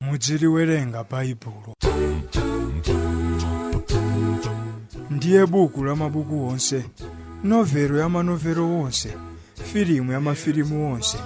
mudziliwerenga baibulo ndiye buku la mabuku onse novelo ya manovelo onse filimu ya mafilimu onse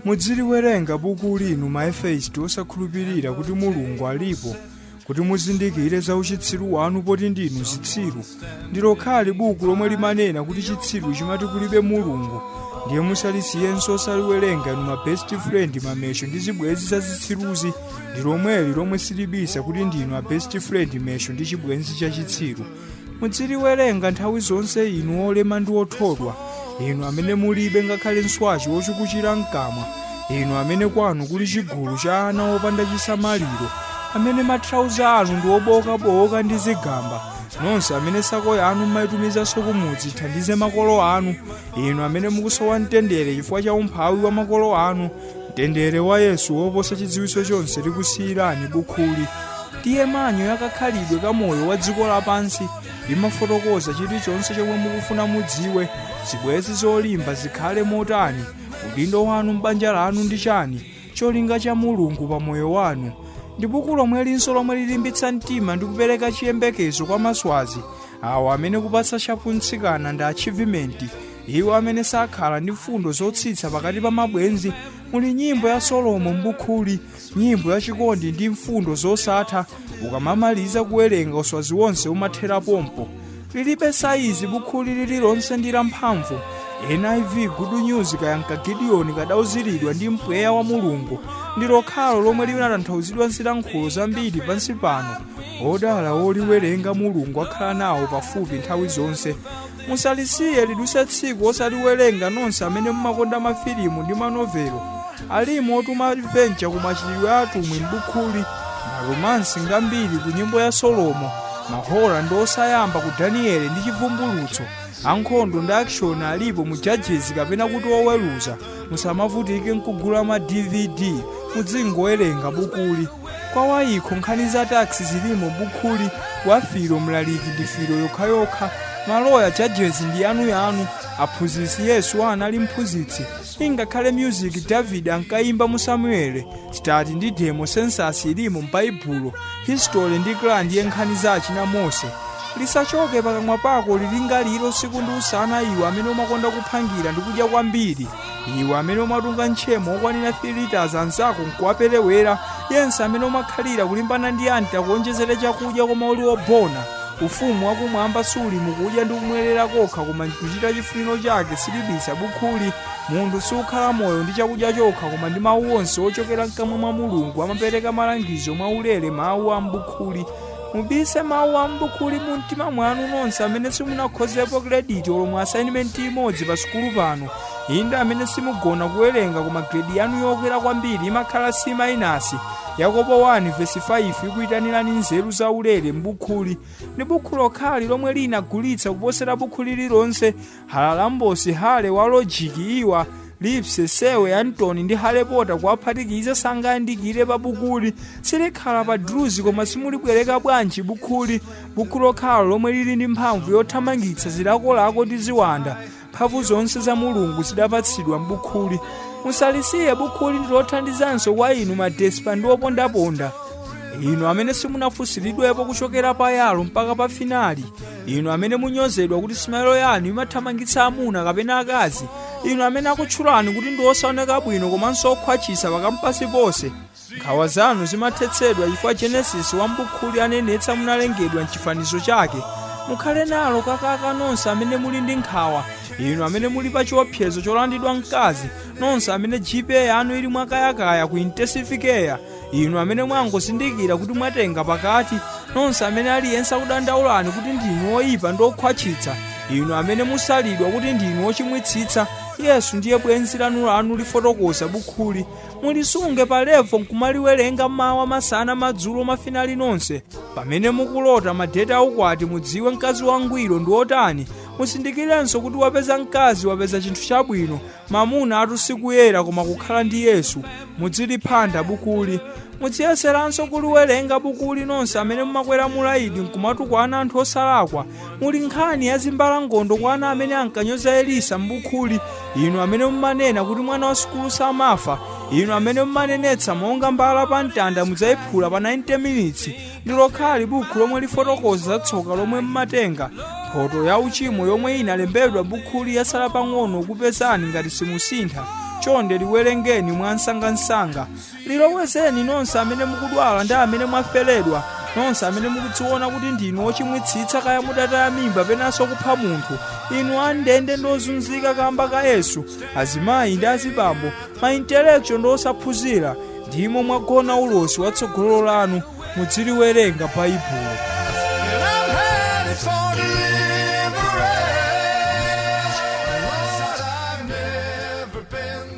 mudziliwerenga buku linu maefeisti osakhulupirira kuti mulungu alipo kuti muzindikire za uchitsiru wanu poti ndinu zitsiru ndi lokhali buku lomwe limanena kuti chitsiru chimati kulibe mulungu ndiye musalisiyenso osaliwerenga inu ma best friend mamesho ndi zibwenzi za zitsiruzi ndi lomweli lomwe silibisa kuti ndinu a best friend mesho ndi chibwenzi cha chitsiru mudziliwerenga nthawi zonse inu olema ndi othodwa inu amene mulibe ngakhale nswachi wotsukuchira mkamwa inu amene kwanu kuli chigulu cha ana opanda chisamaliro amene mathrauza anu ndi obowokabowoka ndi zigamba nonse amene sako yanu mmaitumizanso kumudzi ithandize makolo anu inu amene mukusowa mtendere chifukwa cha umphawi wa makolo anu mtendere wa yesu woposa chidziwitso chonse likusiyirani bukhuli ndiye manyo yakakhalidwe ka moyo wa dziko lapansi limafotokoza chilichonse chomwe mukufuna mudziwe zibwenzi zolimba zikhale motani udindo wanu m'banja lanu ndi chani cholinga cha Mulungu pa moyo wanu ndi buku lomwelinso lomwe lilimbitsa mtima ndi kupereka chiyembekezo kwa maswazi awo amene kupatsa chapuntsikana ndi achievement iwo amene sakhala ndi mfundo zotsitsa pakati pa mabwenzi muli nyimbo ya solomo mbukhuli nyimbo ya chikondi ndi mfundo zosatha ukamaliza kuwerenga uswazi wonse umathera pompo Lilibe saizi bukhuli lililonse ndi lamphamvu. NIV Good News kaya nka Gideoni kadauziridwa ndi mpweya wa Mulungu ndi lokhalo lomwe linatanthauzidwa zilankhulo zambiri pansi pano. Odala oliwerenga Mulungu akhala nawo pafupi nthawi zonse. Musalisiye lidutse tsiku osaliwerenga nonse amene mumakonda mafilimu ndi manovelo. Alimonso ma adventure ku machitidwe a atumwi m'bukhuli, ma romance ngambiri ku nyimbo ya Solomo, ma horror ndi osayamba ku Daniele ndi Chivumbulutso, ankhondo ndi action alipo mu Judges kapena kuti oweruza. Musamavutike nkugula ma DVD, mudzingowerenga bukuli. Kwa wayikho nkhani za tax zilimo m'bukhuli, wa filo mlaliki ndi filo yokhayokha, maloya judges ndi yanuyanu, aphunzitsi Yesu anali mphunzitsi, ingakhale music david ankayimba mu samueli stati ndi demo census ilimo m'baibulo history ndi kra ndiye nkhani za achina mose lisachoke pakamwa pako ulilingalire usiku ndi usana iwe amene umakonda kuphangira ndi kudya kwambiri iwe amene umatunga ntchemo okwanira 3 liters anzako nkuwaperewera yense amene umakhalira kulimbana ndi anti akuonjezere chakudya koma uli wobona Ufumu wa Kumwamba suli mu kudya ndi kumwerera kokha koma m'kuchita chifuniro chake, silibisa bukhuli. Munthu sukhala moyo ndi chakudya chokha koma ndi Mawu onse ochokera mkamwa mwa Mulungu amapereka malangizo mwa ulere Mawu a m'bukhuli. Mubise Mawu a m'bukhuli mu mtima mwanu nonse amene simunakhozepo krediti olo mu assignment imodzi pa sukulu pano. Inde amene simugona kuwerenga koma gredi yanu yokwera kwambiri imakhala C minus. Yakobo 1 vesi 5 ikuitanirani nzeru zaulere m'bukhuli. Ndi bukhu lokhali lomwe linagulitsa kuposera bukhu lililonse, Haralambos, Hurley wa lojiki, Iwa, Lipsey Serway Anton ndi Harry Potter kuwaphatikiza sangayandikire pa bukhuli silikhala pa druzi koma simulibwereka bwanji bukhuli bukhu lokhalo lomwe lili ndi mphamvu yothamangitsa zilakolako ndi ziwanda mphamvu zonse za mulungu zidapatsidwa m'bukhuli musalisiye bukhuli ndilothandizanso kwa inu madespa ndi opondaponda inu amene simunafunsiridwepo kuchokera pa yalo mpaka pa finali inu amene munyozedwa kuti simailo yanu imathamangitsa amuna kapena akazi inu amene akutchulani kuti ndi osaoneka bwino komanso okhwatchitsa pakampasi ponse nkhawa zanu zimathetsedwa chifukwa genesis wa mbukhuli anenetsa munalengedwa mchifanizo chake mukhale nalo kakaka nonse amene muli ndi nkhawa inu amene muli pa chiopsezo cholandidwa mkazi nonse amene gpa yanu ili mwakayakaya ku intensive care inu amene mwangozindikira kuti mwatenga pakati nonse amene aliyense akudandaulani kuti ndinu oyipa ndi okhwatchitsa inu amene musalidwa kuti ndinu ochimwitsitsa yesu ndiye bwenzi lanu lanu lifotokoza bukhuli mulisunge pa levo nkumaliwerenga m'mawa masana madzulo mafinali nonse pamene mukulota madeti aukwati mudziwe mkazi wangwiro ndi otani muzindikirenso kuti wapeza mkazi wapeza chinthu chabwino mamunatu sikuyera koma kukhala ndi yesu mudziliphanda bukhuli mudziyeseranso kuliwerenga bukhuli nonse amene mumakwera mulaidi nkumatukwana anthu osalakwa muli nkhani ya zimbalangondo kwa ana amene ankanyoza elisa m'bukhuli inu amene mumanena kuti mwana wa sukulu samafa inu amene mumanenetsa monga mbala pa mtanda mudzayiphula pa 90 minutes ndi lokhali bukhu lomwe lifotokoza za tsoka lomwe mumatenga mphoto ya uchimo yomwe inalembedwa m'bukhuli yasala pang'ono kupezani ngati simusintha chonde liwerengeni mwansangansanga lilowezeni nonse amene mukudwala ndi amene mwaferedwa nonse amene mukudziona kuti ndinu ochimwitsitsa kaya mudataya mimba penanso kupha munthu inu andende ndi ozunzika kamba ka yesu azimayi ndi azibambo maintelektual ndi osaphunzira ndimo mwagona ulosi wa tsogolo lanu mudziliwerenga baibulo And I'm headed for deliverance. Lord, I've never been